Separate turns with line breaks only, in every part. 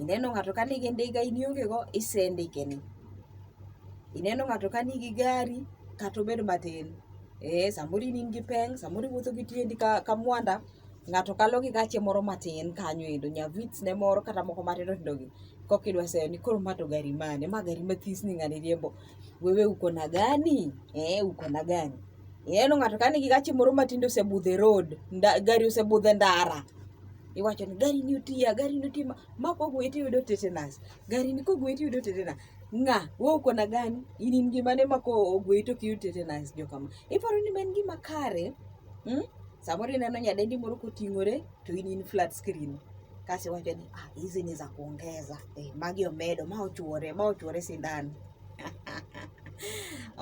Ineno ng'ato ka nigi ndiga in ionge go, ise ndike ni. Ineno ng'ato ka nigi gari kata obed matin, ee samoro in in gi peng', samoro iwuotho gi tiendi ka ka mwanda, ng'ato kalo gi gache moro matin kanyo endo, nya vitz ne moro kata moko matindo tindo gi. Kokidwa seyo ni koro ma to gari mane? Ma gari mathis ni ng'ani riembo. Wewe uko na gani? Ee uko na gani? Ineno ng'ato ka nigi gache moro ma tinde osebudho e road, nda gari osebudho e ndara. iwacho ni gari ni otiya gari ni otima ma kogwe to iyudo tetanus gari ni kogwe to iyudo tetanus ng'a wewe uko na gani in in gima ne mako ogwe to kiyudo tetanus jo kama iparo ni en gima kare hmm? samoro ineno nyadendi moro koting'ore to in in flat screen kasi iwacho ni ah, hizi ni za kuongeza eh, magi omedo ma ochuore ma ochuore sindan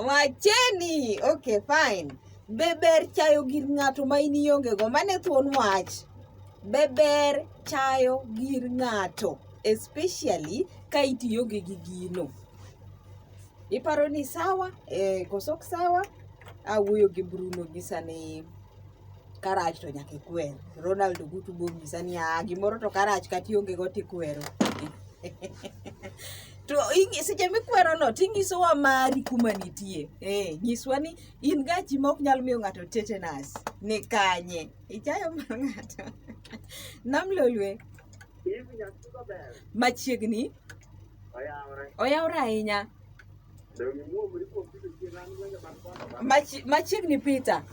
wacheni okay fine Be ber chayo gir ng'ato ma in iongego? Mane thuon wach. Be ber chayo gir ng'ato especially ka itiyo gi gino. Iparo ni sawa? Eh, koso ok sawa? Awuoyo gi Bruno gi sani karach to nyaka ikwer. Ronald Ogutu bonyisa ni ah, gimoro to karach kata ionge go tikwero. to seche mikwerono tinyisowa mari kuma nitie. Eh, nyiswa ni in gachi ma ok nyal miyo ng'ato tetenas ni kanye ichayo mar ng'ato nam lolwe machiegni oyawre ahinya machiegni pita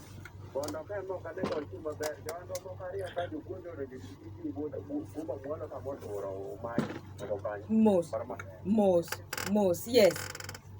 mos mos mos yes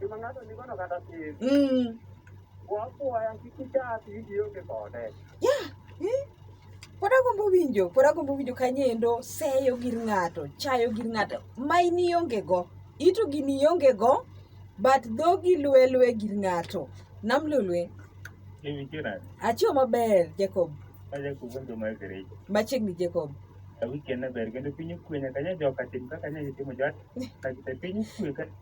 Gima ng'ato nigono kata tin. Mm. Wapuoya kik ichak winji onge kode. Yeah. Mm. Pod agombo winjo, pod agombo winjo kanyendo seyo gir ng'ato, chayo gir ng'ato. Ma in ionge go. Ito gini ionge go, but dhogi lwe lwe gir ng'ato. Nam lulwe. Mimi kira. Achio maber, Jacob. Aja kugonjo ma ekereji. Machiegni Jacob. Awiki anaber,
kendo pinyo kwenye kanya joka tim kaka nyaji timo jwat. Kakita pinyo kwenye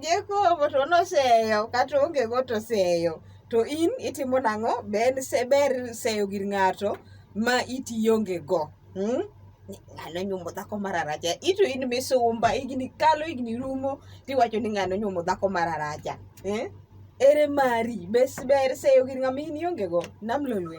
Jacobo to noseyo kata onge go to seyo to in itimo nang'o ber seyo gir ng'ato ma itionge go hmm? ng'ano nyuomo dhako mararacha ito in misumba igni kalo igni rumo tiwacho ni ng'ano nyuomo dhako mararacha eh? ere mari ber seyo gir ng'ama in ionge go namlolwe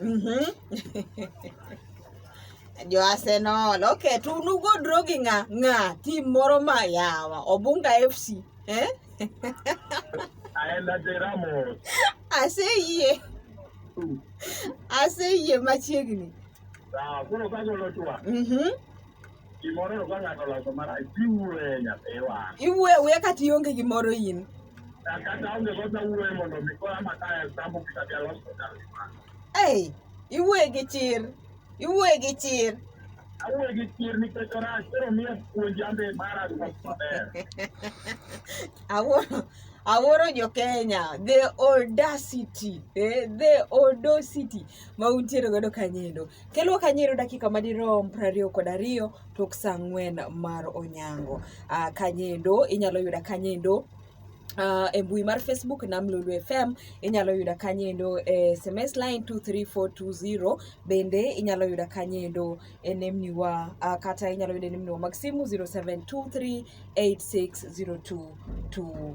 Mhm.
jo Arsenal okay to unugo draw gi ng'a ng'a team moro ma yawa Obunga FC
eh aseyie
aseyie machiegni
Mhm. iwuoyo awuoya kata ionge
gimoro in ei
iwuoye gi chir
iwuoye gi
chir awuoye gi chir nikech orach koro miyo puonj ambe mara maber awuoyo
awuoro jo kenya the audacity eh, the audacity ma untiere godo kanyo endo Kelwa kanyero dakika madirom prariyo kod ariyo tok sa ang'wen mar onyango. Uh, kanyendo inyalo yuda kanyendo Uh, e mbui mar facebook nam lulu fm inyalo yuda kanyendo e sms line 23420 bende inyalo yuda kanyendo e nemniwa uh, kata inyalo yuda e nemniwa mag simu 07238602